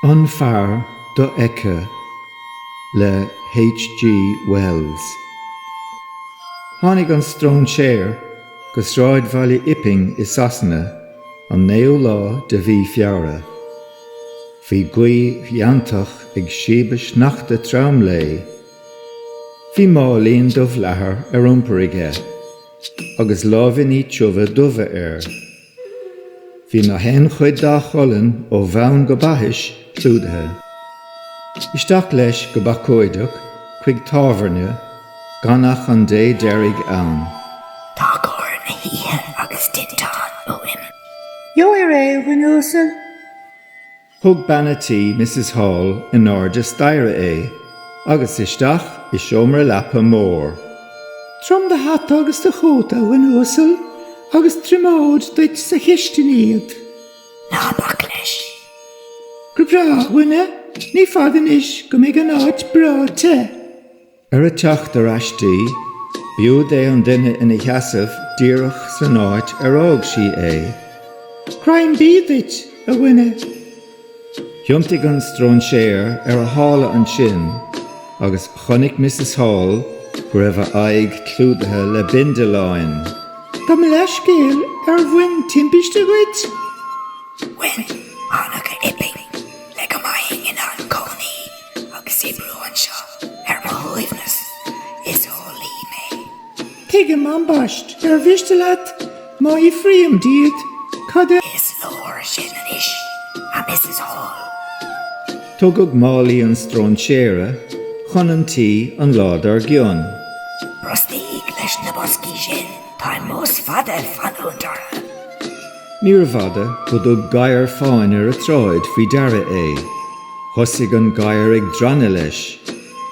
An fear dofheicthe le HG Wells. Tháinig an stróinséir go sráidbhaile Iping i Sasana an naoú lá de mhí Feabhra. Bhí gaoth fheanntach ag síobadh sneachta trom léi. Bhí máilín dubh leathair ar iompar aige. agus láimhíní tiubha dubha air. Bhí na haon chuid dá cholainn ó bhonn go baithis clúdaithe. Isteach leis go bacóideach chuig tábhairne gan ach an dé deiridh ann. Tá cóir na hoíche agus tinteán uaim. Gheobhair é, a dhuine uasail. Thug bean a' tí, Misses Hall, in airde staighre é, agus isteach i seomra leapa mór. Tabhair dom do hata agus do chóta, a dhuine uasail, agus triomód duit sa chistin iad. Ná bac leis. Go breá, a dhuine, ní fada anois go mbeidh an áit breá te. Ar a teacht ar ais di, b'iúd é an duine ina sheasamh díreach san áit ar fhág sí é. Greim bídh duit, a dhuine! Thiontaigh an stróinséir ar a shála ansin agus chonaic Missis Hall go raibh a aghaidh clúdaithe le bindealáin. Gabh mo leithscéal, ar bhain timpiste dhuit? Bhain. Thánag go hIping le go mbeinn in ann cónaí Agus oibriú anseo ar mo shuaimhneas. Is eolaí mé. Tuigim, ambaist', ar mhiste leat má fhiafraím díot cad é. Is leor sin anois, a Mrs Hall. Tugadh málaí an stróinséara chun an tí an lá dár gcionn. Brostaigh leis na boscaí sin, táim mós fada ag fanúint orthu. Níorbh fhada go dtug gadhar fáin ar an tsráid faoi deara é. Thosaigh an gadhar ag drannadh leis.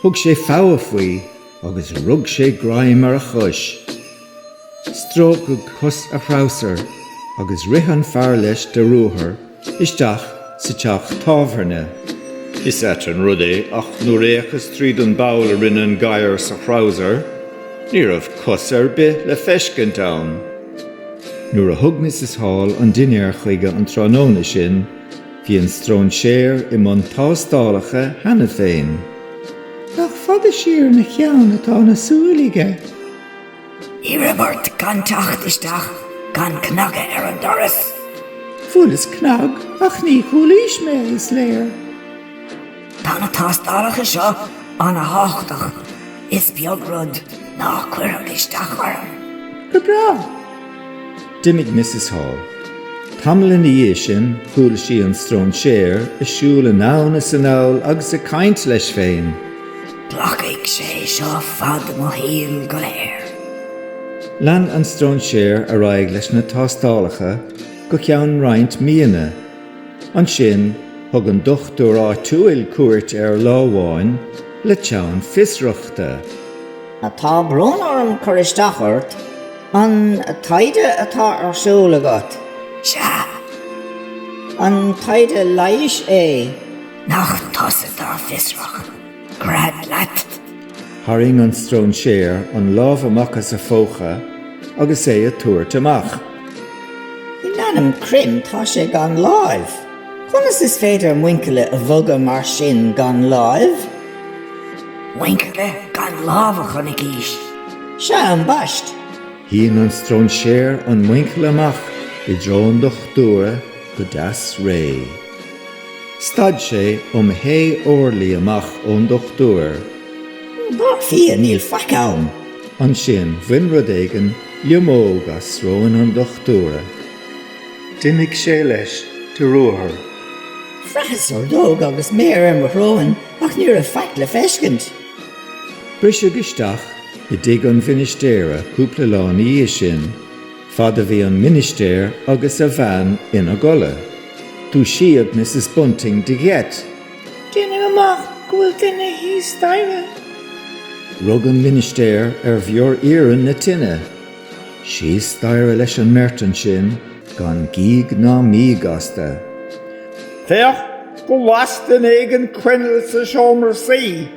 Thug sé fogha faoi agus rug sé greim ar a chois. Stróiceadh cos a threabhsair agus rith an fear leis de ruathar isteach sa teach tábhairne. Is ait an rud é ach nuair a fhéachas tríd an bpoll a rinne an gadhar sa threabhsar, ní raibh cos ar bith le feiscint ann. Nuair a thug Mrs Hall an dinnéar chuige an tráthnóna sin, bhí an stróinséar i mbun tástálacha cheana féin. Nach fada siar ina cheann atá na súile aige! Iarraim ort gan teacht isteach gan cnagadh ar an doras. Bhuaileas cnag, ach ní chualaís mé, is léir. Tá na tástálacha seo an-tábhachtach, is beag rud ná cuirfeadh isteach orm. Go breá. D'imigh Missus Hall. Tamall ina dhiaidh sin chuala sí an stróinséar ag siúl anonn is anall agus ag caint leis féin. Glacfaidh sé seo fad mo shaoil go léir. Lean an stróinséar ar aghaidh leis na tástálacha go ceann roinnt míonna. Ansin, thug an dochtúir áitiúil cuairt air lá amháin le teann fiosrachta. Tá brón orm cur isteach ort. An taighde atá ar siúl agat? Sea. An taighde leighis é? Nach tusa dár bhfiosraigh? Gread leat! Tharraing an stróinséar an lámh amach as a phócha agus é a tabhairt amach. In ainm Chroim, tá sé gan láimh! Conas is féidir muinchille a bhogadh mar sin gan láimh? Muinchille gan lámh a chonaicís-se! Sea, ambaist! Shín an stróinséar an muinchille amach i dtreo an dochtúra go deas réidh. Stad sé um sé orlaí amach ón dochtúir. Dar fia, níl faic ann! Ansin bhain rud éigin liomóg as sróin an dochtúra. D'imigh sé leis de ruathar. Bhraitheas ordóg agus méar ar mo shróin, ach ní raibh faic le feiscint. Briseadh isteach i dtigh an mhinistéara cúpla lá ina dhiaidh sin. Fad a bhí an Ministéir agus a bhean ina gcodladh, dúisíodh Missus Bunting de gheit. Deinim amach go bhfuil duine thíos staighre. Rug an Ministéir ar bhior iarainn na tine. Síos staighre leis an mbeirt ansin, gan gíog ná míog astu. Féach, las duine éigin coinneal sa seomra suí.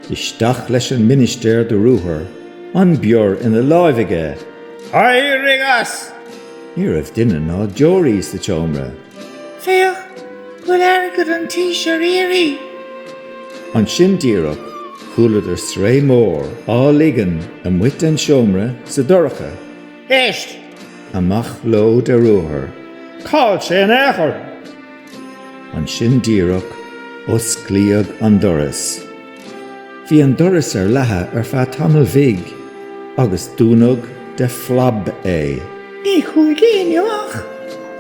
Isteach leis an ministéir de ruathar, an bior ina láimh aige. Éirigh as! Ní raibh duine ná deoraí sa tseomra. Féach, bhfuil airgead an tís ar iarraidh! Ansin díreach, chualadar sraoth mhór á ligean lasmuigh den tseomra sa dorcha. Éist! Amach leo de ruathar. Cá'il sé in aon chor? Ansin díreach, osclaíodh an doras. Bhí an doras ar leathadh ar feadh tamaill bhig, agus dúnadh de phlab é. Ní chuaigh éinne amach.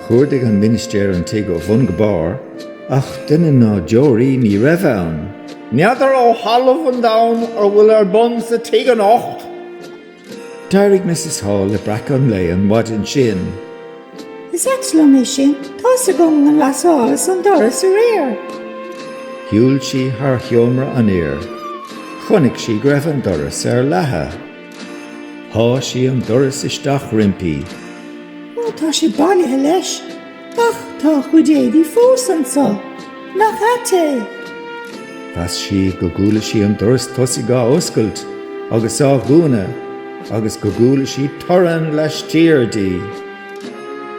Chuardaigh an Ministéir an tigh ó bhun go barr, ach duine ná deoraí ní raibh ann. N'fheadar ó thalamh an domhain cad tá ar bun sa tigh anocht! D'éirigh Mrs Hall le breac an lae an mhaidin sin. Is ait liom é sin. Tá's agam gur ghlasálas an doras aréir. Shiúil sí thar sheomra an fhir. Chonaic sí go raibh an doras ar leathadh. Sháigh sí an doras isteach roimpi. Ó, tá sé bailithe leis. Ach tá a chuid éadaí fós anso, nach ait é! Mheas sí go gcuala sí an doras tosaigh á oscailt agus á dhúnadh agus go gcuala sí torann laistiar di.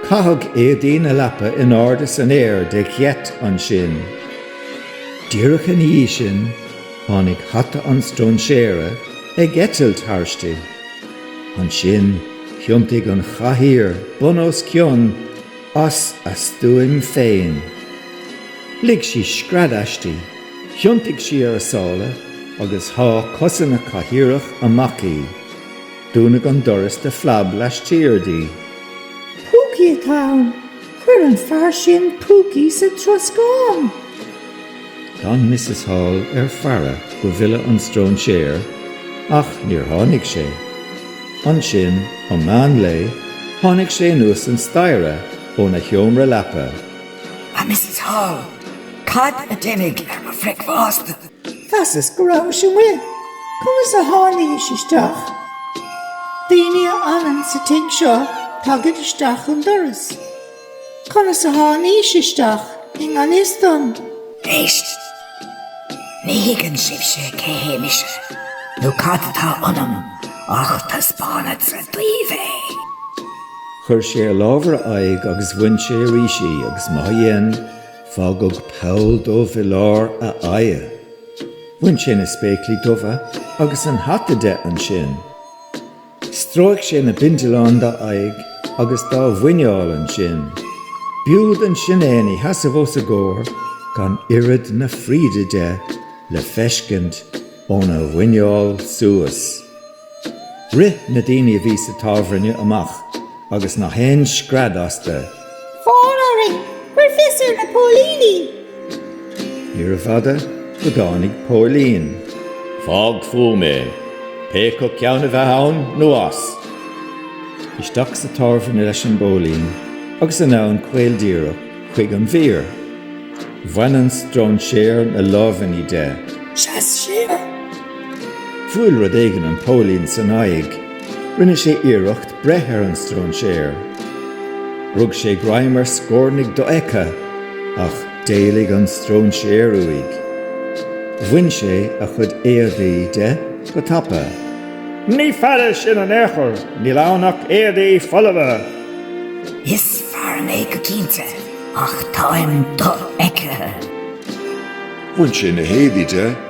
Caitheadh éadaí na leapa in airde san aer de gheit ansin. Díreach ina dhiaidh sin, tháinig hata an stróinséara ag eitilt thairsti. Ansin thiontaigh an chathaoir bun os cionn as a stuaim féin. Lig sí scread aisti, thiontaigh sí ar a sála agus shá cosa na cathaoireach amach í. Dúnadh an doras de phlab laistiar di. 'Púcaí atá ann! Chuir an fear sin púcaí sa troscán! D'fhan Misses Hall ar faire go bhfillfeadh an stróinséir, ach níor tháinig sé. Ansin, um meán lae, tháinig sé anuas an staighre óna sheomra leapa. A Misses Hall, cad a d'imigh ar mo bhricfeasta? Mheasas go rabhais amuigh. Conas a tháinís isteach? Daoine a fhanann sa tigh seo tagaid isteach an doras. Conas a tháinís isteach i ngan fhios dom? Éist! Ní thuigeann sibhse cé hé mise, nó cad atá ionam, ach taispeánfadsa daoibh é. Chuir sé a lámh ar a aghaidh agus bhain sé arís í, agus má dhein, fágadh poll dubh i lár a aghaidhe. Bhain sé na spéaclaí dubha agus an hata de ansin. Stróic sé na bindealáin dá aghaidh agus dá mhuineál ansin. B'iúd ansin é ina sheasamh os a gcomhair gan oiread na fríde de le feiscint óna mhuineál suas. Rith na daoine a bhí sa tábhairne amach agus na haon scread astu. Fóir orainn! Cuir fios ar na póilíní. Níorbh fhada go dtáinig póilín. Fág fúm é. Pé acu ceann a bheith ann nó as. Isteach sa tábhairne leis an bpóilín agus anonn caol díreach chuig an bhfear. Bhain an stróinséar na lámhainní de. Sheas siar. Bhuail rud éigin an póilín san aghaidh. Rinne sé iarracht breith ar an stróinséar. Rug sé greim ar scórnaigh dofheicthe, ach d'éalaigh an stróinséar uaidh. Bhain sé a chuid éadaí de go tapa. Ní fear é sin in aon chor, níl ann ach éadaí folamha! Is fear mé go cinnte, ach táim dofheicthe. Bhain sé na héadaí de.